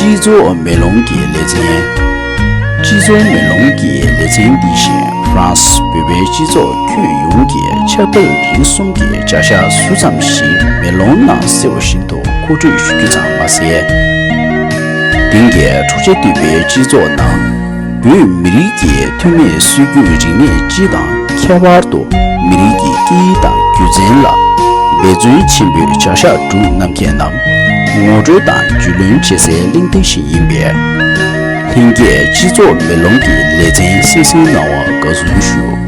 སྤྱི་ཚོགས་མེ་ལོང་གི་ལེ་ཚན། སྤྱི་ཚོགས་མེ་ལོང་གི་ལེ་ཚན་འདི་བཞིན་ཧྥ་རན་སི་བོད་པའི་སྤྱི་ཚོགས་ཁྱོན་ཡོངས་ཀྱི་ཆབ་དཔལ་རིག་གསུམ་གྱི་བྱ་གཞག་ཟུར་ཙམ་ཞིག་མེ་ལོང་ནང་གསལ་བ་བཞིན་དུ་མཁོ་སྤྲོད་ཞུ་རྒྱུ་ཙམ་མ་ཟད། དེང་གི་འཁྲུག་ཆ་དུད་པའི་སྤྱི་ཚོགས་ནང། བོད་མི་རིགས་ཀྱི་ཐོན་མིས་སྲོལ་རྒྱུན་རིག་གནས་སྤྱི་དང་ཁྱད་པར་དུ་མི་རིགས་ཀྱི་སྐད་ཡིག་དང་རྒྱུ་མཚན་ལ་འབད་བརྩོན་ཆེན་པོས་བྱ་གཞག་སྒྲུབ་རྣམ་མཁས་རྣམས་ངོ་སྤྲོད་དང་རྒྱུས་ལོན་བྱེད་སའི་གླེང་སྟེགས་ཤིག་ཡིན་པས། ལྷན་རྒྱས་སྤྱི་ཚོགས་མེ་ལོང་གི་ལེ་ཚན་བསྲེ་བསྲེ་གནང་བར་དགའ་བསུ་ཞུ།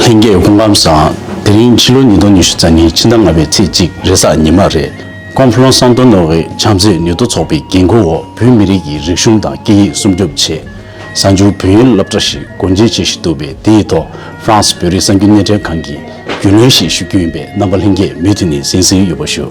ལྷན་རྒྱས་སྐུ་ཁམས་བཟང། དེ་རིང་ཕྱི་ལོ་ཉིས་སྟོང་ཉི་ཤུ་རྩ་གཉིས་ཕྱི་ཟླ་ལྔ་པའི་ཚེས་གཅིག་རེས་གཟའ་ཉི་མ་རེད། ཀོང་ཕུ་ལོང་སང་ཏོ་ནོ་ཝེ་བྱམས་བརྩེ་ནུས་སྟོབས་ཚོགས་པའི་འགན་ཁུར་འོག་བོད་མི་རིགས་ཀྱི་རིག་གཞུང་དང་སྐད་ཡིག་སྲུང་སྐྱོབ་ཆེད། གསར་འགྱུར་བོད་ཡིག་སློབ་གྲྭ་ཞིག་སྒོ་འབྱེད་བྱེད་བཞིན་འདུག་པས་དེ་ཡི་ཐོག France བོད་རིགས་གསར་འགྱུར་སྣེ་འདྲེན་ཁང་གིས་རྒྱུས་ལོན་ཞིག་ཞུ་རྒྱུ་ཡིན་པས་རྣམ་པ་ལྷན་རྒྱས་མུ་མཐུད་ནས་གཟེངས་བསུའི་ཡོད་པ་ཞུ།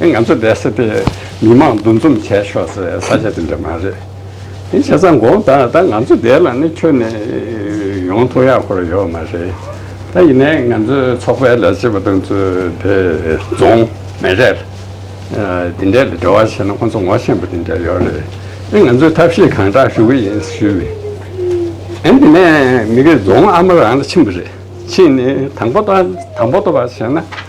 ང་ཚོ་བསྡད་ས་དེ་མི་མང་འདུ་འཛོམས་བྱས་ཆོག་སའི་ས་ཆ་དེ་འདྲ་མ་རེད། དེ་བྱས་ཙང་དགོངས་དག་ད་ང་ཚོ་བསྡད་ལ་ནི་ཁྱོད་ནི་ཡོང་ཐུག་ཡག་ཁོར་ཡོག་མ་རེད། ད་ཡིན་ནའི་ང་ཚོའི་ཚོགས་པའི་ལས་བྱེད་པ་དང་ཚོས་དེ་རྫོང། མེ་རལ། དེ་འདྲའི་ལ་འབྲེལ་བ་བྱས་ན་ཁོ་ཚོ་ངོ་ཤེས་པ་དེ་འདྲ་ཡོག་རེད། ཨེ་ང་ཚོས་ཐབས་ཤེས་གང་དྲག་ཞུ་གི་ཡིན་ཞུས། ཨེ་དེ་ནས་མི་རེ་རྫོང་ཨ་མ་རང་ལ་ཕྱིན་པ་རེད་ཕྱིན་ནས་དང་པོ་ཏོ་བ་བྱས་ན།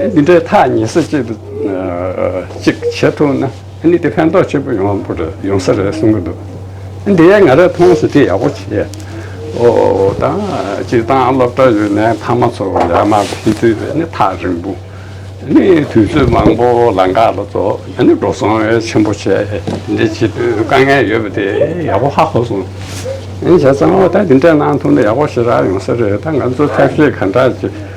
འདི་འདྲའི་ཐག་ཉེ་ས་གཅིག་ཏུ་གཅིག་བྱེད་ཐུབ་ན་ནི་དེ་ཕན་ཐོགས་ཆེན་པོ་ཡོང་བ་རེད་ཡོང་ས་རེད་གསུང་གི་འདུག་འདི་ང་རང་མཐོང་ཞིང་དེ་ཡག་པོ་བྱས་འོ་ན་སྤྱིར་བཏང་སློབ་གྲྭ་ཡོད་ན་ཕ་མ་ཚོ་ལས་མ་ཕེབས་དུས་ནི་ཐག་རིང་པོ་ནི་དུས་ཚོད་མང་པོ་ལ་འགག་ལ་རྫོགས་ནི་འགྲོ་སོང་བས་ཆེན་པོ་བྱས་འདི་འདྲའི་བྱེད་དུས་དཀའ་ངལ་ཡོད་པ་དེ་ཡག་པོ་ཧ་གོ་སོང་བྱས་ཙང་འོ་ད་འདི་འདྲ་གནང་ཐུབ་ན་ཡག་པོ་ཞེ་དྲག་ཡོང་ས་རེད་ད་ང་ཚོ་ཐབས་ཤེས་ག་འདྲ་བྱེད།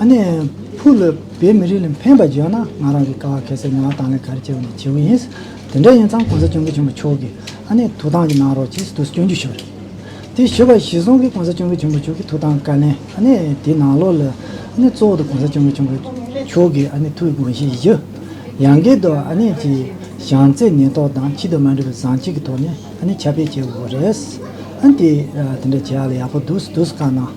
ཨ་ནེ། ཕུ་ལ་བོད་མི་རིགས་ལ་ཕན་པ་བརྗོད་ན་ང་རང་གི་ཀ་བ་གལ་སྲིད་ངོ་བ་དང་ལེན་ག་རེ་བྱེད་པ་ནས་བྱེད་པོ་ཡིན། དེ་འདྲ་ཡིན་ཙང་གོང་ས་བྱུང་གི་བྱུང་བ་ཆོག་གི་ཨ་ནེ་ཐུགས་དང་གི་གནང་རོགས་ཅེས་དུ་སྐྱོན་བརྗོད་ཞུ་རེད། དེ་ཞུ་བ་གཞི་བཟུང་གི་གོང་ས་བྱུང་གི་བྱུང་བ་ཆོག་གི་ཐུགས་དང་བཀའ་ལན་ཨ་ནེ་དེ་ནང་ལོགས་ལ་ཨ་ནེ་གཙོ་བོ་དུ་གོང་ས་བྱུང་གི་བྱུང་བ་ཆོག་གི་ཨ་ནེ་ཐུགས་དགོངས་བཞེས་ཞུ། ཡང་གལ་ཏུ་ཨ་ནེ་ཀྱི་བྱང་རྩེ་ཉེན་རྟོག་དང་ཕྱི་དུ་མ་འདྲི་བ་བཟང་ཅིག་གི་ཐོག་ནས་ཨ་ནེ་ཁྱབ་སྤེལ་བྱེད་དགོས་རེད། ཨ་ནེ་དེ་འདྲ་བྱེད་ཡག་ལ་ཡག་པོ་འདུག་ཟེར་དུས་ཀ་གནང།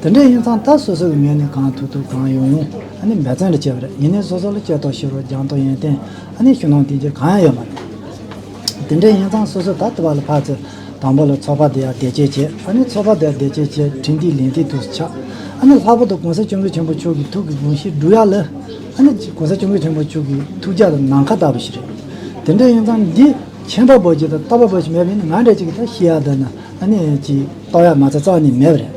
དེ་འདྲ་ཡིན་ཙང་ད་སོ་སོ་གི་ངོས་ནས་གང་ཐུབ་ཐུབ་གང་ཡོང་ཡོང་ཨ་ནི་འབད་བརྩོན་རེ་བྱེད་པ་རེད་ཡིན་ནའི་སོ་སོ་ལ་སྐྱོ་ཐོག་ཤི་རོགས་རྒྱང་ཐོག་ཡོན་ཏན་ཨ་ནི་ཞུ་གནང་དེ་འདྲ་གང་ཡང་ཡོད་མ་རེད་དེ་འདྲ་ཡིན་ཙང་སོ་སོ་ད་ལྟ་བ་ལ་ཕར་ཚེ་དང་པོ་ལ་ཚོགས་པ་དེ་ཡར་བདེ་སྐྱིད་བྱས་ཨ་ནི་ཚོགས་པ་དེ་ཡར་བདེ་སྐྱིད་བྱས་དྲིན་གྱིས་ལན་གྱིས་དུས་སུ་ཆགས་ཨ་ནི་ལྷག་པོ་དུ་གོང་ས་སྤྱོད་འགུལ་ཆེན་པོ་མཆོག་གི་ཐུགས་ཀྱི་དགོངས་གཞི་འགྲུབ་ཡག་ལ་ཨ་ནི་གོང་ས་སྤྱོད་འགུལ་ཆེན་པོ་མཆོག་གི་ཐུགས་རྒྱ་དང་ནམ་མཁའ་ལྟ་བུ་ཞིག་རེད་དེ་འདྲ་ཡིན་ཙང་འདི་མཁྱེན་པ་པོ་ཞིག་དང་ལྟ་བ་པོ་ཞིག་མེད་པ་ཡིན་ན་ང་འདྲ་ཅིག་གིས་ད་ཤི་ཡག་བསྡད་ན། ཨ་ནེ་ཅི། ཏོག་ཡག་མ་རྩ་བཙག་ནི་མེད་རེད།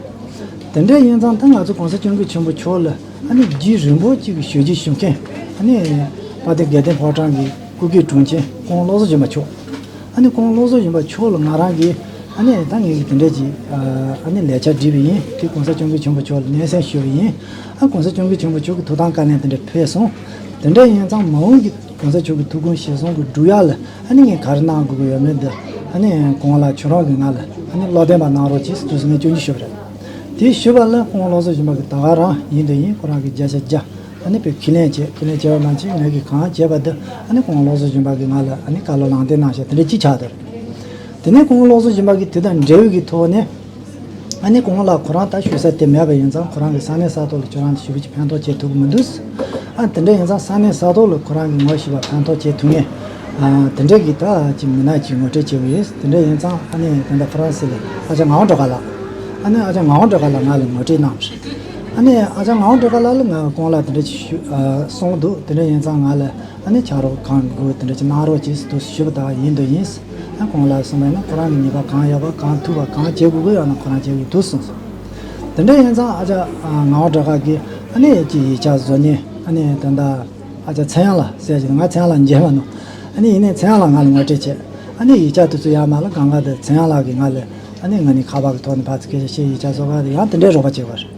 དེ་འདྲའི་ཡིན་ཙང་ད་ང་ཚོ་གོང་ས་སྐྱོང་གིས་ཆེན་པོ་མཆོག་ལ་ཨ་ནེ་བརྒྱུད་རིན་པོ་ཆེ་གི་ཞོལ་གྱི་ཞུ་མཁན་ཨ་ནེ། པ་ཏི་དགེ་ལྡན་ཕོ་བྲང་གི་སྐུ་སྒེར་དྲུང་ཆེན་ཀོང་བློ་བཟོ་གཞོན་པ་མཆོག་ཨ་ནེ་ཀོང་བློ་བཟོ་གཞོན་པ་མཆོག་ལ་ང་རང་གིས་ཨ་ནེ་ད་ངས་དེ་འདྲའི་ཅི། ཨ་ནེ་ལས་འཆར་འབྲི་བ་ཡིན་དུས་གོང་ས་སྐྱོང་གིས་ཆེན་པོ་མཆོག་ལ་སྙན་སེང་ཞུ་བ་ཡིན་ཨ་གོང་ས་སྐྱོང་གིས་ཆེན་པོ་མཆོག་གི་ཐུགས་དང་བཀའ་ལན་དེ་འདྲ་ཕུལ་སོང་དེ་འདྲའི་ཡིན་ཙང་མ་འོངས་ཀྱི་གོང་ས་མཆོག་གི་ཐུགས་དགོངས་ཞེ་སོང་གི་འབྲུག་ཡག་ལ་ཨ་ནི་ངས་ག་རེ་གནང་དགོས་ཀྱི་ཡོད་མེད་འདི་ཨ་ནི་དགོངས་ལ་ཁྱོད་རང་གིས་ང་ལ་ཨ་ནི་བློ་བདེན་པ་གནང་རོགས་ཅེས་དུས་སུ་ངས་སྐྱོན་གྱིས་ཞུ་བ་རེད། དེས་ཞུས་པ་ལ་ཁོང་ལོགས་སུ་ཕྱིན་པ་གི་ད་ག་རང་ཡིན་དུས་ཡིན་ཁོ་རང་གིས་བརྒྱ་ཆ་བརྒྱ་ཨ་ནི་པའི་ཁས་ལེན་བྱས་ཁས་ལེན་བྱས་པ་མ་ཕྱིན་ངས་གིས་གང་བྱས་པ་འདི་ཨ་ནི་ཁོང་ལོགས་སུ་ཕྱིན་པ་གིས་ང་ལ་ཨ་ནི་བཀའ་སློབ་ལངས་ཏེ་གནང་ཞེས་དེ་འདྲའི་ཅི་ཆགས་དེ་རེད། དེ་ནས་ཁོང་ལོགས་སུ་ཕྱིན་པ་གིས་དེ་དང་འབྲེལ་ཡོད་ཀྱི་ཐོག་ནས། ཨ་ནེ་གོང་ལགས་ཁོ་རང་ལྟར་ཞུ་ས་དེ་མེད་པ་ཡིན་ཙང་ཁོ་རང་གི་ས་གནས་ས་ཐོག་ལ་ཁྱོད་རང་ལྟར་ཞུ་བུ་གཅིག་ཕན་ཐོག་བྱེད་ཐུབ་ཀྱི་མི་འདུག་ཨ་དེ་འདྲ་ཡིན་ཙང་ས་གནས་ས་ཐོག་ལ་ཁོ་རང་གི་ངོ་ཤེས་པ་ཕན་ཐོག་བྱེད་ཐུབ་ངེས། དེ་འདྲ་གི་ད་ཅི་མི་ནག་ཅིག་ངོ་སྤྲད་བྱེད་པོ་ཡིན་དེ་འདྲ་ཡིན་ཙང་ཨ་ནེ་དེ་འདྲ་ཕ་རན་སི་ལ་ཨ་ཅག་ངའོ་འགྲོ་ག་ལགས། ཨ་ནེ་ཨ་ཅག་ངའོ་འགྲོ་ག་ལགས་ང་ལ་ངོ་སྤྲད་གནང། ཨ་ནེ་ཨ་ཅག་ངའོ་འགྲོ་ག་ལགས་ལ་ང་གོང་ལ་དེ་འདྲ་ཞུ་སོང་འདུག་དེ་འདྲ་ཡིན་ཙང་ང་ལ། ད་ནི་ཆགས་རོགས་གང་དགོས་དེ་འདྲ་གནང་རོགས་ཅེས་དུ་ཞུས་པ་དག་ཡིན་དུ་ཡིན། ཡང་གང་ལ་གསུངས་པ་ཡིན་ན་ཁོ་རང་གི་ཉེས་པ་གང་ཡོད་པ་གང་ཐུབ་པ་གང་བྱེད་དགོས་ཀྱི་ཡོད་ན་ཁོ་རང་བྱེད་ཀྱི་འདུག་གསུངས་སོང། དེ་འདྲ་ཡིན་ཙང་ཨ་ཅག་ངག་དབང་གྲགས་དཀར་གྱིས་ཨ་ནེ་ཀྱི་ཡིག་ཆ་བཟོ་ཉེན་ཨ་ནེ་དེ་འདྲ་ཨ་ཅག་ཚེ་དབྱངས་ལ་གསལ་བྱས་ཏེ་ང་ཚེ་དབྱངས་ལགས་མཇལ་མ་གནང། ཨ་ནེ་ཡིན་ནས་ཚེ་དབྱངས་ལགས་ང་ལ་ངོ་སྤྲད་བྱས། ཨ་ནེ་ཡིག་ཆ་དེ་ཚོ་ཡར་མར་ལ་གང་ག་དེ་ཚེ་དབྱངས་ལགས་ཀྱིས་ང་ལ་ཨ་ནེ་ང་ནི་ཁ་བ་གི་ཐོག་ནས་ཕར་ཚུར་སྐད་ཆ་བཤད་ཡིག་ཆ་བཟོ་ག་དེ་ཡང་དེ་འདྲའི་རོགས་པ་བྱས་པ་རེད།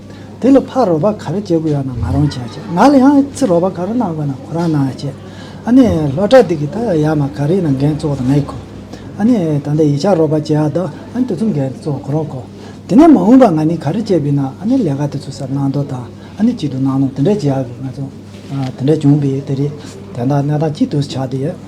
དེ་ལ་ཕར་རོགས་པ་ག་རེ་བྱེད་དགོས་ཡོད་ན་ང་རང་བྱས་ཤིག་ང་ལ་ཡང་ཨི་ཚི་རོགས་པ་ག་རེ་གནང་དགོས་ན་ཁོ་རང་གནང་ཤིག་ཨ་ནི་ལྷོ་བྲག་སྡིག་གི་ད་ཡ་མ་ག་རེ་ན་འགན་གཙོ་བོ་ད་ང་ཡི་གོ་ཨ་ནི་ད་ལྟ་ཡི་ཆ་རོགས་པ་བྱས་ཨ་ད་ཨ་ནི་དེ་ཚོ་འགན་གཙོ་བོ་ཁོ་རང་གོ་དེ་ནས་མ་འོངས་པ་ང་ནི་ག་རེ་བྱེད་དགོས་ན་ཨ་ནི་ལས་ཀ་དེ་ཚོ་སར་གནང་དོ་དང་ཨ་ནི་ཅི་དུ་གནང་ནོ་དེ་འདྲ་བྱས་ཨ་གི་ང་ཚོ་དེ་འདྲ་བྱུང་པས་དེ་རེད་དེ་ད་གནས་སྟངས་ཅི་དུ་ཆགས་དུ་ཡོད།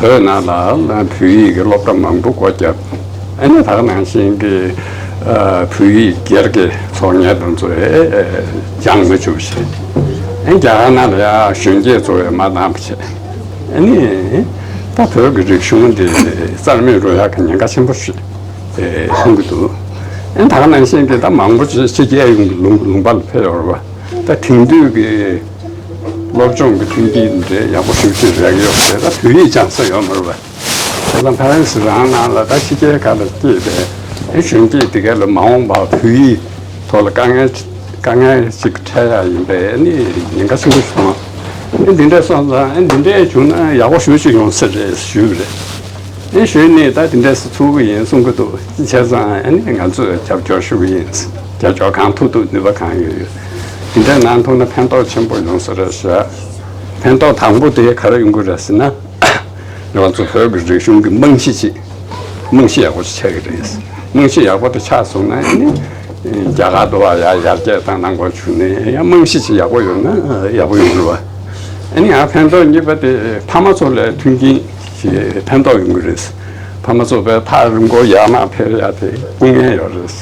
བོད་ནང་ལ་བོད་ཡིག་གི་སློབ་གྲྭ་མང་པོ་སྒོ་བརྒྱབ། ཨ་ནེ་དག་ནང་བཞིན་གྱི་བོད་ཡིག་སྒེར་གྱི་ཚོགས་གཉེར་དང་ཚོ་བས་སྦྱངས་མ་བཅུག་བཞིན། རྒྱ་གར་ནང་ལ་ཡང་གཞོན་སྐྱེས་ཚོ་བས་མ་འདང་བ་བྱས། ཨ་ནེ། ད་བོད་ཀྱི་རིག་གཞུང་འདི་རྩར་མེད་འགྲོ་ཡག་གི་ཉེན་ཁ་ཆེན་པོ་ཞིག་མཐོང་གི་འདུག་ཨ་ནེ་དག་ནང་བཞིན་གྱི་ད་མང་པོ་ཕྱི་རྒྱལ་ཡོང་གི་ལུང་པར་ལ་ཕེབས་ཡོང་རོགས། ད་དེང་དུས་ཀྱི། སློབ་སྦྱོང་གི་ཐུན་ཏེ་འབྲེལ་ཡག་པོ་ཞུ་ཕྱིར་རེག་ཡོད་པ་དེ་དག་བོད་ཡིག་སྦྱང་ས་ཡོད་མི་རུང་བས། དེ་དང་ཕ་རན་སི་རང་ནང་ལ་ད་ཕྱི་རྒྱལ་ཁག་ལ་སྐྱེས་པའི་གཞོན་སྐྱེས་དེ་གའི་ལ་མ་འོངས་པར་བོད་ཡིག་ཐོག་ལ་དཀའ་ངལ་དཀའ་ངལ་ཅིག་འཕྲད་ཡག་ཡིན་པས་ནི་ཉེན་ཁ་ཆེན་པོ་བྱུང་ཨ་ཨེ་འདི་འདྲས་སོང་ཙང་ཨེ་འདི་འདྲས་བྱུང་ན་ཡག་པོ་ཞུ་ཅིག་ཡོང་ས་རེད་ཞུས་པ་རེད། ཨེ་གཞོན་ནས་ད་འདི་འདྲས་སུ་ཚུགས་ཀྱི་ཡིན་གསུང་གི་འདུག་ཅི་བྱས་ཙང་ཨེ་ནས་ང་ཚོས་རྒྱབ་སྐྱོར་ཞུ་གི་ཡིན་རྒྱབ་སྐྱོར་གང་ཐུབ་ཐུབ་ནུས་པ་གང་ཡོད་ཡོད། དེ་འདྲ་གནང་ཐུབ་ན་ཕན་ཐོགས་ཆེན་པོ་ཡོང་ས་རེད་ཟེར། ཕན་ཐོགས་དང་པོ་དེ་ག་རེ་ཡོང་གི་རེད་ཟེར་ན། ང་ཚོ་བོད་ཀྱི་རིག་གཞུང་གི་རྨང་གཞི་ཅིག་རྨང་གཞི་ཡག་པོ་ཞིག་ཆགས་ཀྱི་རེད། རྨང་གཞི་ཡག་པོ་དེ་ཆགས་སོང་ན་ཡང་ནི་རྒྱ་གར་དུ་བ་ཡར་རྒྱས་དང་ནང་པར་བྱུང་ནས་ཡང་རྨང་གཞི་ཅིག་ཡག་པོ་ཡོད་ན་ཡག་པོ་ཡོང་གི་རེད། ཨ་ནི་ཡང་ཕན་ཐོགས་གཉིས་པ་དེ་ཕ་མ་ཚོ་ལས་མཐུན་རྐྱེན་གྱིས་ཕན་ཐོགས་ཡོང་གི་རེད། ཕ་མ་ཚོ་བས་ཐག་རིང་པོ་ཡར་མར་འཕེལ་ཡ་དེ་དཀོན་ངེས་ཡོད་རེད།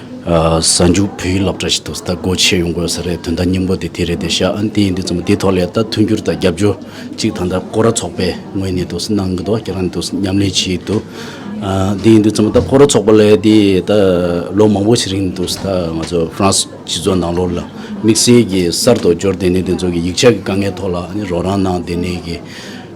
གཟའ་མཇུག་བོད་ཡིག་སློབ་གྲྭ་ཞིག་འདུག་ད་སྒོ་ཕྱེ་ཡོང་དགོས་ས་རེད་དོན་དག་སྙིང་པོ་དེ་དེ་རེད་དེ་ཤ་ཨ་འདི་ཡིན་འདི་ཙམ་དེའི་ཐོག་ལས་ད་མཐུན་འགྱུར་དང་རྒྱབ་སྐྱོར་གཅིག་ད་ལྟ་ཀོ་ར་ཚོགས་པས་ངོས་ནས་འདུག་གནང་གི་འདུག་ཁྱེད་རང་འདུག་མཉམ་ལས་བྱས་ཡོད་འདུག་འདི་ཡིན་འདི་ཙམ་ད་ཀོ་ར་ཚོགས་པ་ལས་དེ་ད་ལོ་མང་པོ་ཞིག་རིང་འདུག་ད་ང་ཚོ་ཧྥ་རན་སི་སྤྱི་ཚོགས་ནང་ལོགས་ལ་དམིགས་བསལ་གྱིས་གསར་དུ་འབྱོར་ལྟེ་གནས་དེ་ཚོ་གི་ཡིག་ཆ་གི་དཀའ་ངལ་ཐོག་ལ་ནི་རོགས་རམ་གནང་ལྟེ་གནས་ཀྱི།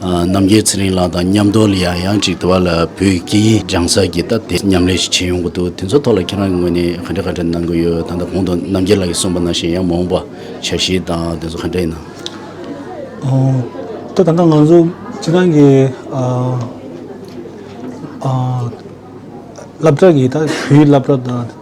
རྣམ་རྒྱལ་ཚེ་རིང་ལགས་དང་མཉམ་རྡོ་ལི་ཡང་ཡང་ཅིག་དུ་བ་ལ་བོད་སྐད་ཡིག་སྦྱང་ས་ཀྱི་སྟབས་བདེ་མཉམ་ལས་ཤིག་བྱེད་ཡོང་གི་འདུག་དེ་ཚོ་ཐོག་ལ་ཁྱེད་རང་གི་ངོས་ནས་ག་འདྲ་ག་འདྲ་གནང་གི་ཡོད་ད་ལྟ་གོང་དུ་རྣམ་རྒྱལ་ལགས་ཀྱིས་གསུངས་པ་ནང་བཞིན་ཡང་མ་འོངས་པ་བྱ་གཞི་དང་དེ་ཚོ་ག་འདྲ་ཡིན་ནམ། ད་ད་ང་ང་ཚོ་ཁྱེད་རང་གི་བསླབ་གྲྭ་གི་ད་བོད་ཡིག་བསླབ་གྲྭ་དང།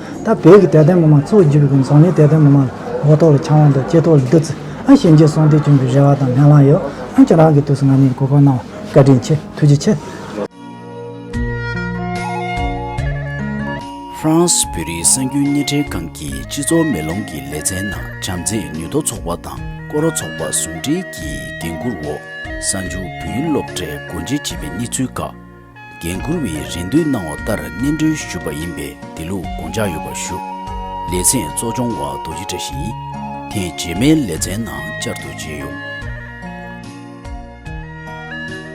ད་བོད་ཀྱི་དད་ལྡན་ངོ་མ་གཙོ་བོ་འཇུ་བའི་གོམས་སོང་ནི་དད་ལྡན་ངོ་མ་ལོ་ཏོག་ལ་འཆང་བ་དང་ལྕེ་ཐོག་ལ་བདུད་རྩི་ཞལ་འབྱེད་གསུང་སྟེ་བྱོན་པའི་རེ་བ་དང་ལན་བླངས་ཡོད། འོན་ཀྱང་རང་གི་དུས་སུ་ང་མིའི་གོ་སྐབས་གནང་བ་བཀའ་དྲིན་ཆེ་ཐུགས་རྗེ་ཆེ། ཧྥྲང་སི་བོད་རིགས་སྲན་རྒྱུན་གཉེན་འཕྲད་ཁང་གིས་སྤྱི་ཚོགས་མེ་ལོང་གི་ལེ་ཚན་ནང་བྱམས་བརྩེ་ནུས་མཐོ་ཚོགས་པ་དང་སྐོར་བ་ཚོགས་པ་ཟུང་འབྲེལ་གྱིས་འགན་འཁུར་འོག་གསང་ཆུ་བོད་ཡིག་སློབ་གྲྭའི་སྒོ་འབྱེད་བྱས་པའི་གནས་ཚུལ་ཁག་འགན་འཁུར་བའི་རེ་འདུན་གནང་བ་ལྟར་སྙན་སྒྲོན་ཞུས་པ་ཡིན་པས་དེ་ལུགས་དགོངས་འཇགས་ཡོད་པར་ཞུ། ལེ་ཚན་གཙོ་སྦྱོང་བ་རྡོ་རྗེ་བཀྲ་ཤིས། དེ་རྗེས་མའི་ལེ་ཚན་ནང་བསྐྱར་དུ་མཇལ་ཡོང།